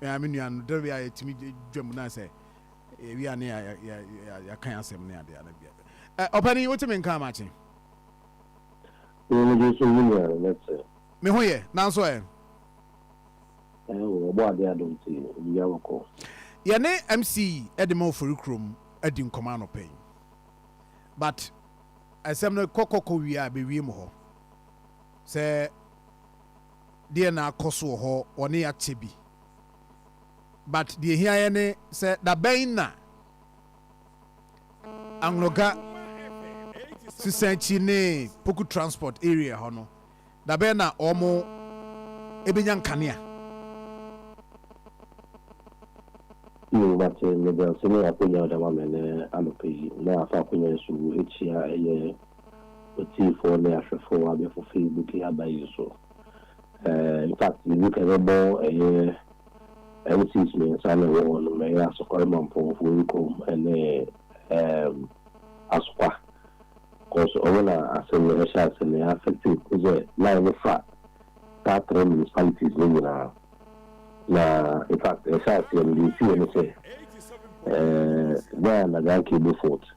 Me ara me nua no dɛrɛ a yɛtumi dwa mu na sɛ yɛwie a ne yɛakan asɛm ne adeɛ ana bia. Ɔpanin wote me nka makye. Wo no gye sɛ wo nua no ne te. Me ho yɛ nanso ɛ. Ɛɛ o ɔbɔ adeɛ adom nti obi a bɔkɔ. Yɛne MC de ma Oforikrom adi nkɔmmɔ anɔpa yi but asɛm no kɔ kɔ kɔ wie a bɛwie mu hɔ sɛ deɛ na akɔ so wɔ hɔ wɔne akyɛ bi but deɛ ɛhia yɛn ne sɛ dabɛn na Angloga Sisanchi ne Poku Transport area hɔ no dabɛn na wɔn ɛbɛnya nkanea. Yoo mate meda nse ne akonya a wode ama me ne anɔpa yi na afa akonya nso wu akyia ɛyɛ otiefo ne ahwɛfo abɛfo Facebook yi aba yi so. Ɛɛ, in fact, yɛdi kan yɛbɛbɔ ɛyɛ NCs mmiɛnsa na ɛwɔ hɔ no, ɛyɛ Asɔkɔre Mampɔnfo Nkom ne ɛɛm Asokwa. Because ɔmo na asɛm no ɛhyɛ ase no, ɛyɛ affected kosi sɛ line no fa saa three municipalities no nyinaa. Na in fact, ɛhyɛ aseɛ no, deɛ esiyɛ ne sɛ, ɛɛ, Ghana Nagran Cable Fault.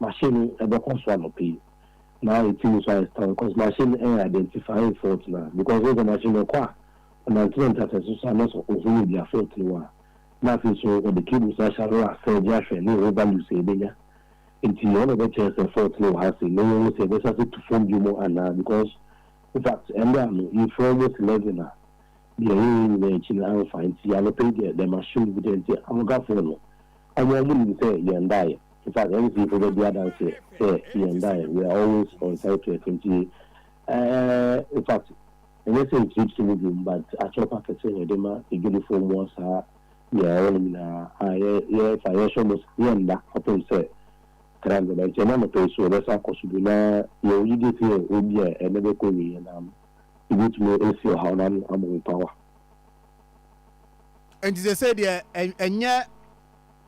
Machine no ɛbɛkɔ so anɔpa yi na ɛti mu nso ayɛ strong cause machine no ɛyɛ identifying fault no ara because wohu sɛ machine no ɛkɔ a ɔnante nante asase so a na sɛ ɔhunu bia fault no wɔ a na afei nso ɔde cables no ahyɛ ano a serge ahwɛ ne ɛho values a ɛbɛnya nti ɛhɔ na ɛbɛkyerɛ sɛ fault no wɔ ha sei na yɛhu sɛ ɛbɛsan so tu fam biom anaa because infact ɛnɛ a no yɛfiri almost 11 a deɛ ɛyɛ yɛn nyinaa akyi no amfa nti anɔpa yi deɛ the machine bi deɛ nti amogafoɔ no wɔn a wɔnim sɛ yɛn daeɛ. In fact, NC-fo bɛdi adanseɛ sɛ yɛn dan, we are always on Cyprus nti eh, in fact, ɛnyɛ sɛ ntripsi no bom but akyɛrpa akɛseɛ na yɛde ma adwadifoɔ mmoa saa deɛ ɛwɔ no nyinaa a yɛ, yɛ, in fact, yɛhwɛ mo saa, yɛnda kɔpem sɛ kra no bɛba nti ɛna anɔpa yi so wɔbɛsan akɔ so bio na yɛwɔ gyidie sɛ yɛ obi a ɛna bɛkɔ awieɛ na yɛbɛtumi asi ɔhaw no ano ama wo power. Nti sɛsei deɛ ɛ, ɛnyɛ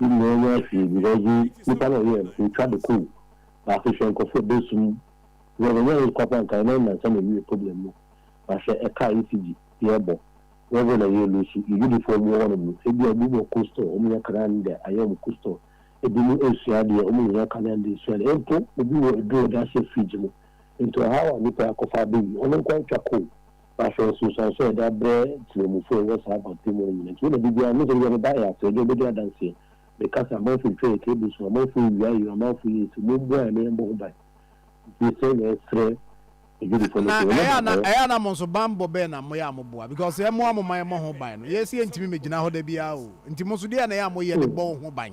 Wo nua enya hwee bi na ɔdze nyimpa na ɔyɛɛ no otwa do kow na afei hwɛ nkorɔfo a obesu mu dɛ wɔnnyɛ hwee kwapa nka hɛn awiansa na ewie problem no na hwɛ ɛkaa ECG yɛbɔ level na yɛ loosu yɛdwudifoɔ ɔmo wɔ hɔnom no ebia bi wɔ coastal ɔmo nya kanaa no dɛ ayɛ ɔmo coastal ebinom esua adeɛ ɔmo nnyɛ kanaa no dɛ esua no mpo obi wɔ eduro ɔde ahyɛ fridge mu nti ɔhaw a nipa akɔfa abɛwie ɔno nkoa etwa kow Na sɛ nsunsuanso a yɛde abrɛ temamufoɔ a wɔwɔ saa abattoir mu no nyina akyi, wo na da biara, mehu sɛ ebia meba ɛyɛ aseɛ, ebia wobɛdi adanseɛ, meka sɛ amanfoɔ retwa yɛn table so, amanfoɔ rewia yɛn, amanfoɔ yɛ sei, momboa yɛn na yɛmbɔ ho ban. Nti sɛ yɛresrɛ adwadifoɔ no Na sɛ wɔnyɛ ɛyɛ a na, baabɔɔ. ɛyɛ a na mo nso banbɔ bɛn na moyɛ a moboa? Because yɛmmoa mo ma yɛmmɔ ho ban no, yɛn sɛ yɛntumi mmɛgyina hɔ da biara o. Nti mo nso deɛn na ɛyɛ a moyɛ de bɔ wo ho ban?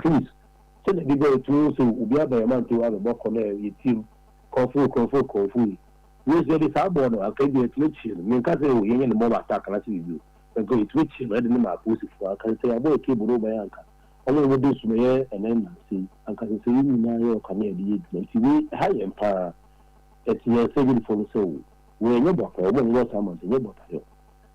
Please sɛdeɛ bi bɛyɛ tu woho sɛ obi aba yɛn mantam abɛbɔ kɔ na yɛtie mu kɔmfoo kɔmfoo kɔmfoo yi Grace yɛde saa bɔɔ no anka ebia yɛtumi akyie no menka sɛ oh yɛnyɛ ne mmɔma attack anaasɛ biribi o anka yɛtumi kyie no yɛde no ma apolisifoɔ anka sɛsɛ yɛabɔ yɛ cable no woba yɛ anka ɔmo na wɔdi nso mɛyɛ ɛnɛ nnansa yi anka sɛsɛ yɛn nyinaa yɛwɔ ka na yɛde yɛ adwuma nti wei ɛha yɛn paa ɛte yɛn sɛ adwadifoɔ no sɛ oh wei ɛnyɛ bɔtayɔ ɔmo a wɔwɔ saa mantam nyɛ bɔtayɔ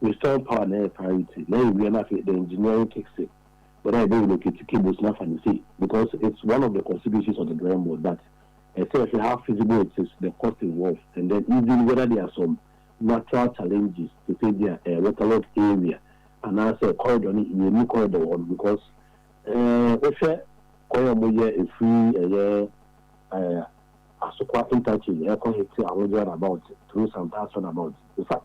Wei solar power na ɛyɛ priority na yɛ wia na afei the engineering kicks in whether yɛbɛ relocate cables no afa no sei because it's one of the constituencies of the drawing board but ɛsɛ yɛhwɛ how feasible it is, the cost involved and then even whether there are some natural challenges te sɛ ebia ɛyɛ waterlogged area anaa sɛ corridor no yɛ nni corridor wɔ hɔ no because ɛɛ wohwɛ kwan a wɔyɛ ɛfiri ɛyɛ ɛɛ Asokwa interchange ɛkɔ Hete Ahogye roundabout through Santaas roundabout in fact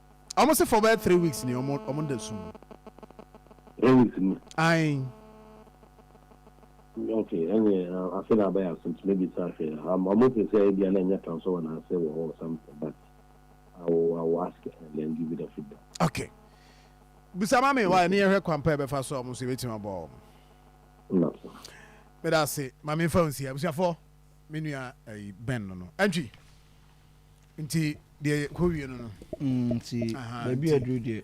Ɔmo se fɔ bɛyɛ three weeks ni ɔmo ɔmo da sum mu. Three weeks ni? Ae. Ok ɛneɛ afe na abɛyɛ ase nti mɛbisa ahwɛ am ɔmo se sɛ ebia na ɛnyɛ tan so wɔ naase wɔ hɔ or something but I will I will ask and then give you the feedback. Ok bisa ma me why ne yɛhwɛ kwan pa yɛbɛfa so a ɔmo nso yɛbɛtumi aboa ɔmo. Nna so. Meda ase ma menfa wo nsi abusuafɔ me nua ɛyi Ben no no ɛntwi. Nti deɛ yɛkɔ wie no no. Mm, nti baabi aduru deɛ.